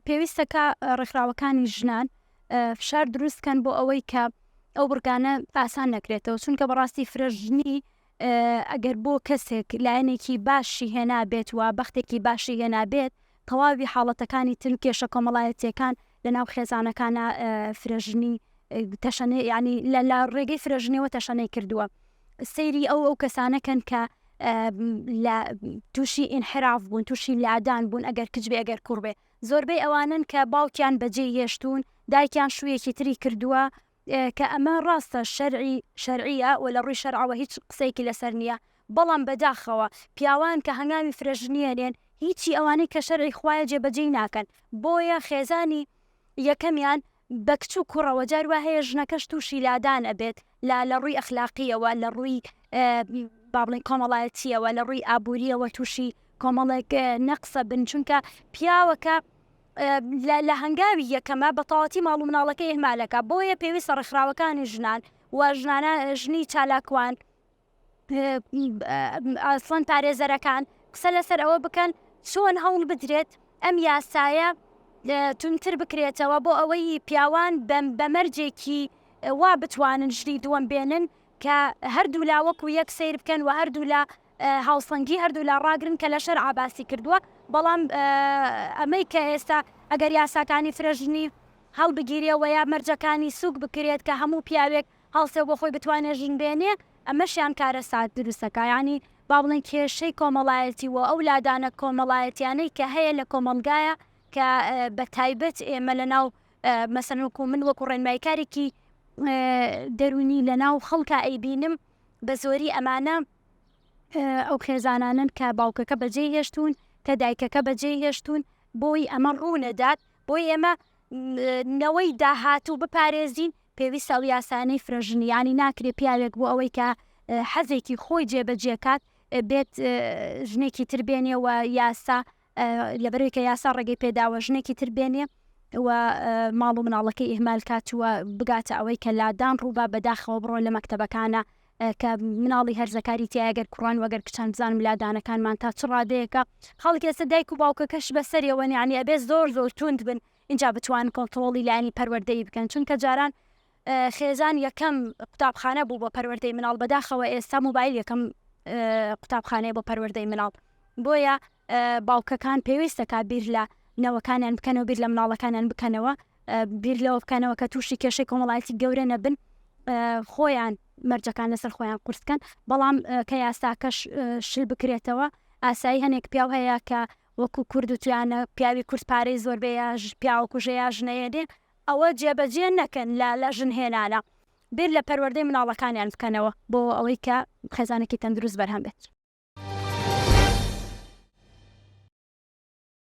پێویستە کە ڕێکخراوەکانی ژنان فشار دروستکەن بۆ ئەوەی کە ئەو بڕگانە ئاسان نەکرێتەوە چونکە بەڕاستی فرەژنی ئەگەر بۆ کەسێک لایەنێکی باشی هێنابێت و بەختێکی باشی هێنابێت تەواوی حاڵەتەکانی تر کێشە کۆمەڵایەتیەکان لە ناو خێزانەکانە فرەژنی تەشەنێ ینی لە لا ڕێگەی فرەژنیەوە تەشەنەی کردووە. سەیری ئەو ئەو کەسانە کەن کە لە تووشی ئینحراف بوون تووشی لادان بوون ئەگەر کچ بێ ئەگەر کوڕ بێ زۆربەی ئەوانن کە باوکیان بەجێ هێشتوون دایکیان شوویەکی تری کردووە کە ئەمە ڕاستە شەرعی شەرعیە و لە ڕووی شەرعەوە هیچ قسەیەکی لەسەر نییە بەڵام بەداخەوە پیاوان کە هەنگاوی فرەژنیە نێن هیچی ئەوانەی کە شەرعی خوایە جێبەجێی ناکەن بۆیە خێزانی یەکەمیان بە کچ و کوڕەوە جار وا هەیە ژنەکەش تووشی لادان ئەبێت لە لە ڕووی ئەخلاقیەوە لە ڕووی با بڵێن کۆمەڵایەتیەوە لە ڕووی ئابووریەوە تووشی کۆمەڵێک نەقسە بن چونکە پیاوەکە لە هەنگاوی یەکەمە بە تەواتی ماڵ و مناڵەکە ئهمالەکە بۆیە پێویستە ڕێکخراوەکانی ژنان و ژنانە ژنی چالاکوان ئەسڵەن پارێزەرەکان قسە لەسەر ئەوە بکەن چۆن هەوڵ بدرێت ئەم یاسایە تونتر بکرێتەوە بۆ ئەوەی پیاوان بە مەرجێکی وا بتوانن ژنی دووەم بێنن کە هەردوو لا وەکو یەک سیر بکەن و هەردوو لە هاوسەنگی هەردوو لا ڕاگرن کە لە شەر عباسی کردووە بەڵام ئەمەی کە ئێستا ئەگەر یاساکانی فرەژنی هەڵبگیرێەوە یا مەرجەکانی سوک بکرێت کە هەموو پیاوێک هەڵسێ و بۆ خۆی بتوانێ ژن بێنێ، ئەمەشیان کارەسات دروست ئەکا، یانی با بڵێین کێشەی کۆمەڵایەتی و ئەو لادانە کۆمەڵایەتیانەی کە هەیە لە کۆمەڵگایە کە بە تایبەت ئێمە لە ناو مەسەلەن وەکوو من وەکوو ڕێنماییکارێکی دەروونی لە ناو خەڵکا ئەیبینم بە زۆری ئەمانە ئەو خێزانانەن کە باوکەکە بە جێ هێشتوون کە دایکەکە بە جێ هێشتوون بۆی ئەمە ڕوو نەدات بۆی ئێمە نەوەی داهاتوو بپارێزین پێویستە ئەو یاسایانەی فرە ژن، یانی ناکرێت پیاوێک بۆ ئەوەی کە حەزێکی خۆی جێبەجێ کات بێت ژنێکی تر بێنێ و یاسا لەبەرەوەی کە یاسا ڕێگەی پێداوە ژنێکی تر بێنێ و ماڵ و مناڵەکەی ئیهمال کات و بگاتە ئەوەی کە لادان ڕووبا بەداخەوە بڕۆ لە مەکتتەبەکانە کە مناڵی هەرزەکاری تیاگەر کوڕان وەگەر کچان بزانم لادانەکانمان تا چ ڕادەیەەکە خەڵک ئێستا دایک و باوکەکەش بەسەرەوەنیانی ئەبێ زۆر زۆر توند بن ئینجا بتوانن کۆنتڕۆڵی لایەنی پەروەردەیی بکەن چونکە جاران خێزان یەکەم قوتابخانە بوو بۆ پەروەردەی مناڵ بەداخەوە ئێستا موبایل یەکەم قوتابخانەیە بۆ پەروەردەی مناڵ بۆیە باوکەکان پێویستەکە بیر لە نەوەکانیان بکەنەوە بیر لە مناڵەکانیان بکەنەوە بیر لەوە بکەنەوە کە تووشی کێشەی کۆمەڵایەتی گەورە نەبن خۆیان مەرجەکان لەسەر خۆیان قورسکەن بەڵام کە یاساکەش شل بکرێتەوە ئاسایی هەنێک پیاو هەیە کە وەکو کورد وتویانە پیاوی کورد پارەی زۆر بێ یا پیاوە کوژە یا ژنە هێنێ ئەوە جێ بەجێ نەکەن لە لە ژن هێنانە بیر لە پەروەردەی مناڵەکانیان بکەنەوە بۆ ئەوەی کە خێزانێکی تەندروست بەرهەم بێت.